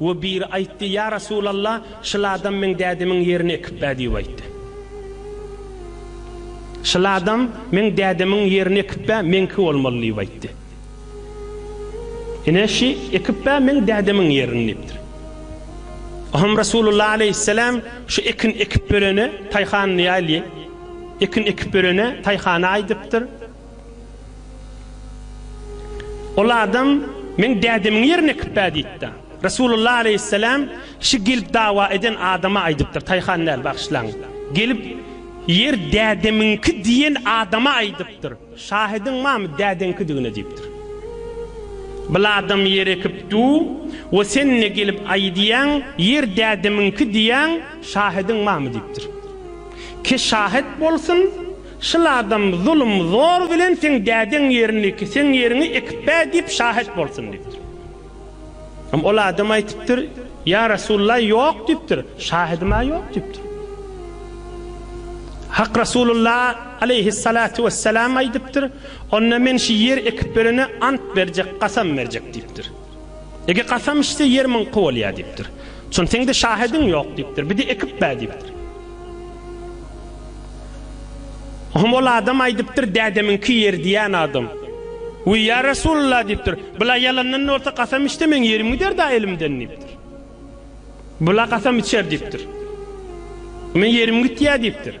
We biri aýtdy, Ýa Resulalla, şyl adam meň dädemiň ýerini ekipbä diýip aýtdy. Şyl adam meň dädemiň ýerini ekipbä meňki bolmaly diýip aýtdy. Ine şy ekipbä meň dädemiň ýerini diýipdir. Ohem Resulullah aleýhisselam şu ekin ekip berene taýhanyny ýaýly ekin ekip berene taýhany aýdypdyr. Ol adam, Meň dädemiň ýerine ekipbä diýipdi. Resulullah aleýhisselam şi gelip dawa eden adama aýdypdyr, Taýhan däl, bagyşlaň. Gelip, Ýer dädemiňki diýen adama aýdypdyr, Şahydyň barmy dädeňkidigine diýipdir. Bul adam ýer ekipdu we sen-de gelip aýdýaň, Ýer dädemiňki diýýäň, şahydyň barmy diýipdir. Ke şahyt bolsun, Şul adam zulum zor bilen seň dädeň ýerini seň ýeriňi ekip ber diýip şahyt bolsun diýipdir. Hem ol adam aýtypdyr, Ýa Resulullah ýok diýipdir, şahydyma ýok diýipdir. Hak Resulullah aleýhissalatu wessalam aýdypdyr, Onda men şi ýer ekip berene ant berjek, kasam berjek diýipdir. Ege kasam içse ýer myňky bolýar diýipdir. Şon seňde şahediň ýok diýipdir. Bidi ekip bä diýipdir. Ohm ol adam aýdypdyr dädemiňki ýer diýen adam. Uý ýa Resulullah diýipdir. Bula ýalandan bolsa kasam içse meň ýerim gider da elimden diýipdir. Bula kasam içer diýipdir. Men ýerim gitýär diýipdir.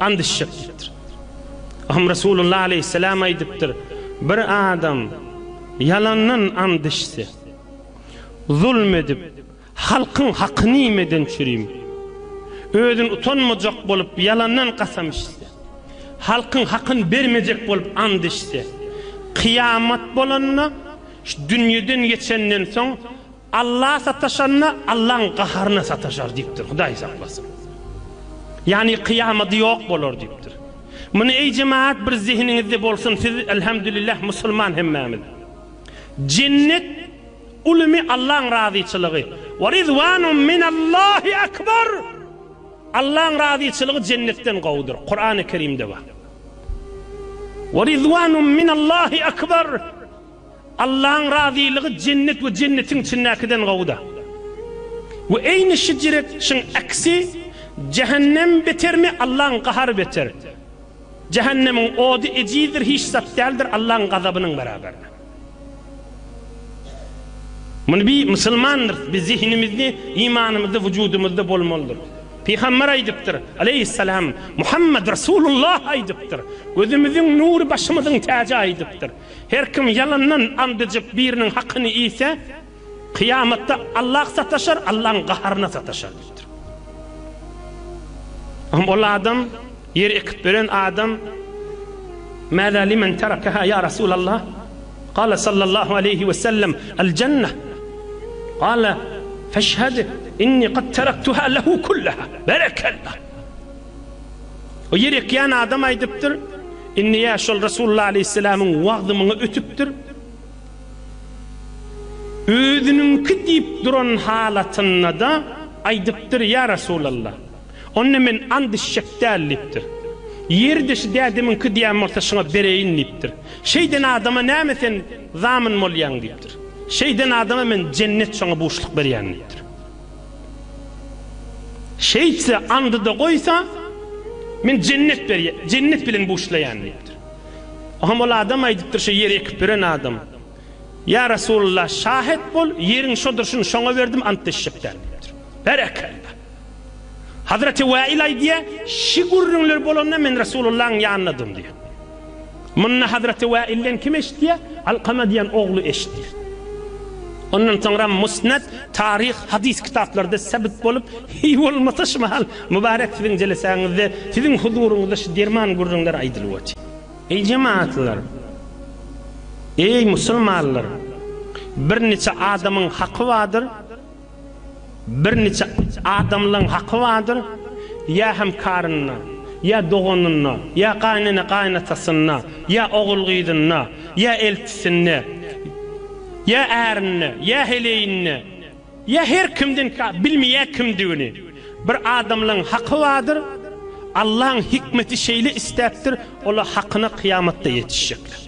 Ant içjek diýipdir. Aham Resulullah aleýhissalam aýdypdyr, Bir adam ýalandan ant içse, zulm edip, halkyň hakyny iýmeden çürim, özüni utanmajak bolup ýalandan kasam içse, halkyň hakyny bermejek bolup ant içse, kyýamat bolanda, şu dünýeden geçenden soň, Alla sataşanda Allaň gaharyna sataşar diýipdir, Hudaý saklasyn. Ýagny kyýamaty ýok bolar diýipdir. Muny eý jemagat bir zehiniňizde bolsun siz elhamdülillah musulman hemmämiz. Jennet ulymy Allaň razyçylygy. Wa ridwanun minallahi akbar. Allaň razyçylygy jennetden gowudyr. Kurany Kerimde bar. Wa ridwanun minallahi akbar. Allaň razylygy jennet we jennetiň içindäkiden gowy-da. We eýni şijret şyň aksi, jähennem betermi, Allaň gahary beter. Jähennemiň ody ejizdir hiç zat däldir Allaň gazabynyň beraberine. Muny bi musulmandyrys, bi zehinimizni, imanymyzy wujudymyzda bolmalydyrys. Pygamber aýdypdyr, aleýhissalam, Muhammad Resulullah aýdypdyr, gözümiziň nury başymyzyň täji aýdypdyr. Her kim ýalandan and içip biriniň hakyny iýse, kyýamatda Allah sataşar, Allahyň gaharyna sataşar diýipdir. Hum ol adam, ýer ekip beren adam, Mäzä limen terakaha ýa Resulallah? Gala sallallahu aleýhi we sellem, Al jennah. Gala, Feşhad inni qad teraktuha lehu kullaha. Berekallah. O ýer ekýän adam aýdypdyr, Indi ýa şol Resulullah aleýhissalamyň wagzy maňa ötüpdir. Özüniňki diýip duran halatynda-da aýdypdyr, Ýa Resulallah, onda men and içjek däl diýipdir. Ýeri-de şu dädemiňki diýen bolsa şuňa bereýin diýipdir. Şeýden adama näme sen zamin bolýaň diýipdir. Şeýden adama men jennet şoňa buşluk berýän diýipdir. Şeýtse, andy-da goýsa, men jennet berýän, jennet bilen buşlaýan diýipdir. Oňam ol adam aýdypdyr, şo ýeri ekip beren adam, Ýa Resulalla, şahet bol, ýeriň şodur, şuny şoňa berdim, ant deşjek däl diýipdir. Berekella! Hazreti Wäil aýdýar, Şi gürrüňler bolanda men Resulullahyň ýanynadym diýýär. Muny Hazreti Wailden kim eşitýär? Alkama diýen ogly eşitýär. Ondan soňra Musnad, Taryh, Hadys kitaplarda sebit bolup, heý bolmasa şu mahal Mubarek siziň jelesäňizde, siziň huzuryňyzda şu derman gürrüňler aýdylyp otyr. Eý jemaatlar! Eý musulmanlar! Bir niçe adamyň haky bardyr. Birniçe adamlaň haky bardyr, ýa hemkarynda, ýa doganynda, ýa gaýnene-gaýynatasynda, ýa ogul-gyzynda, ýa eltisinde, ýa ärinde, ýa heleýinde, ýa her kimden ka, bilmeýär kimdigini. Bir adamlaň haky bardyr, Allaň hikmeti şeýle isläpdir, ola hakyna kyýamatda ýetişjekler.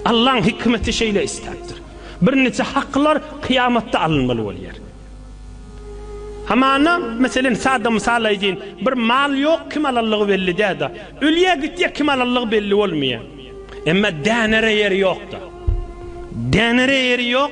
Allaň hikmeti şeýle isläpdir. Birnije haklar kyýamatda alynmaly bolýar. Hamana, meselen, sada mysal aýdýyn, bir mal ýok, kim alanlygy belli däl-de. Ölýär, gitýär, kim alanlygy belli bolmaýar. Emma dänere ýeri ýok-da. Dänere ýeri ýok.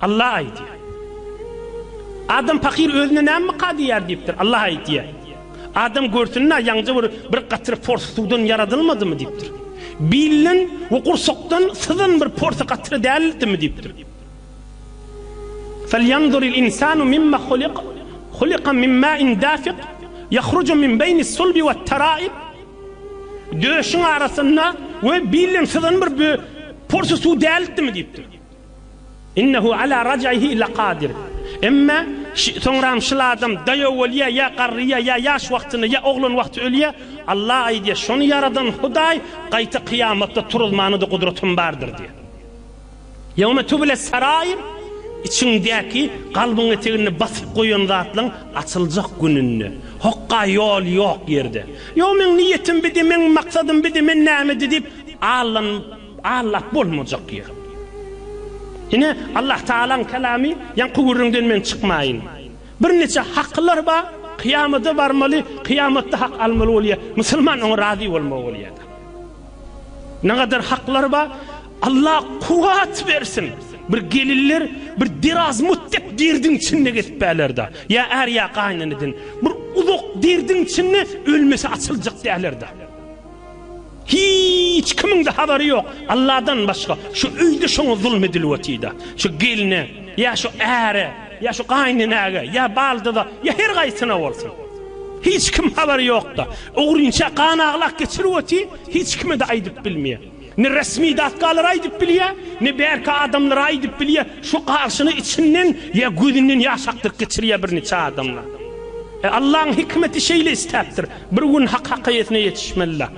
Allah aýtýar. Adam pakyr özüne näme myka diýýär diýipdir. Allah aýtýar. Adam görsün-ä, ýaňja bir bir gatyr pors suwdan ýaradylmadymy diýipdir. Bilden we gursakdan syzan bir porsy gatyr dälmi diýipdir. Felýanzuril insanu mimma huliq, huliqa min mäin dafiq, ýahruju min beýnis sulbi we taraib. Döşüň arasynda we bilden syzan bir porsy suw dälmi diýipdir. Innehu ala raj'ihi lakadir. Emma soňram şyl adam daýaw bolýar, ýa garryýar, ýa ýaş wagtynda, ýa oglan wagty ölýär. Allah aýdýar, şony ýaradan Hudaý gaýta kyýamatda turuzmana-da gudratym bardyr diýýär. Ýewme tübüles sarair, içiňdäki, kalbyň eteginde basyp goýan zatlaň açyljak gününde. Hokga ýol ýok ýerde. Ýo meň niýetim bidi, meň maksadym bidi, men nämedi diýip allanyp. Aňlap bolmajak ýer. Ine, Allahtagalaň Kalamy, Ýaňky gürrüňden men çykmaýyn. Birniçe hakylar bar, kyýamada barmaly, kyýamatda hak almaly bolýar. Musulman oňa razy bolmaly bolýar. Nägadar haklar bar, Allah kuwwat bersin. Bir gelinler bir derazmut dek derdiň içinde gezip bärler-de. Ýa är, ýa gaýyneneden. Bir uzak derdiň içinde ölmese açyljak däller-de. Hiç kimiňde habary ýok Alladan başga şu öýde şoňa zulum edilip otyda şu gelne ýa şu äre ýa şu gaýynenäge ýa baldyza ýa her gaýsyna bolsun hiç kim habary ýokda ogrynça gan aglak geçirip oty hiç kimede aýdyp bilmeýä ne resmi datkalar aýdyp bilýä ne bärki adamlara aýdyp bilýä şu garşyny içinden ýa gözünden ýaş akdyryp geçirýä bir niçe adamlar e Allaň hikmeti şeýle istäpdir Bir gün hak hakaýetine ýetişmelila.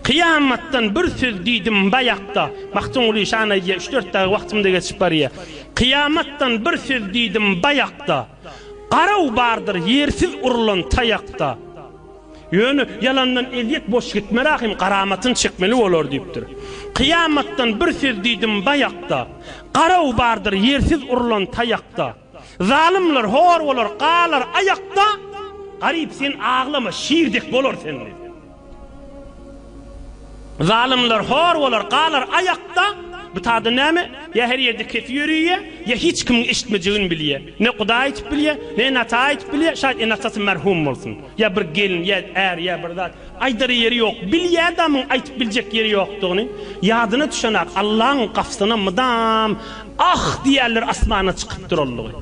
Kyýamatdan bir söz diýdim baýakda, Magtymguly şan aýdýa, üç-dört dagy wagtymda geçip barýa. Kyýamatdan bir söz diýdim baýakda, Garaw bardyr ýersiz urlan taýakda. Ýöne ýalandan ezýet boş gitmez ahim, Garamatyn çekmeli bolar diýipdir. Kyýamatdan bir söz diýdim baýakda, Garaw bardyr ýersiz urlan taýakda. Zalymlar hor bolar, galar aýakda, Garyp sen aglama, şir dek bolar sende. Zalymlar hor bolar, galar aýakda, Bu tada näme? Ýa her ýerde kepi ýörüýe, ýa hiç kimiň eşitmejegini bilýe. Ne Hudaý aýtyp bilýe, ne ene ata aýtyp bilýe, şaýt ene atasy merhum bolsun. Ýa bir gelin, ýa är, ýa bir zat. Aýdar ýeri ýok. Bilýä adamyň aýtyp biljek ýeri ýokdugyny. Ýadyna düşenak Allaň gapysyna mydam Ah! diýerler asmana çykyp duranlygy.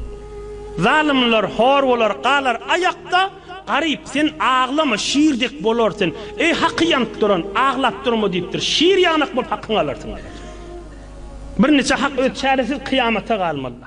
Zalymlar hor bolar, galar aýakda, Garyp, sen aglama, şir dek bolar sen, Eý, haky ýanyp duran, aglap durma diýipdir, Şir ýanak bolup hakyňy alarsyň diýipdir. Bir niçe hak öz çäresiz kyýamata galmalyda.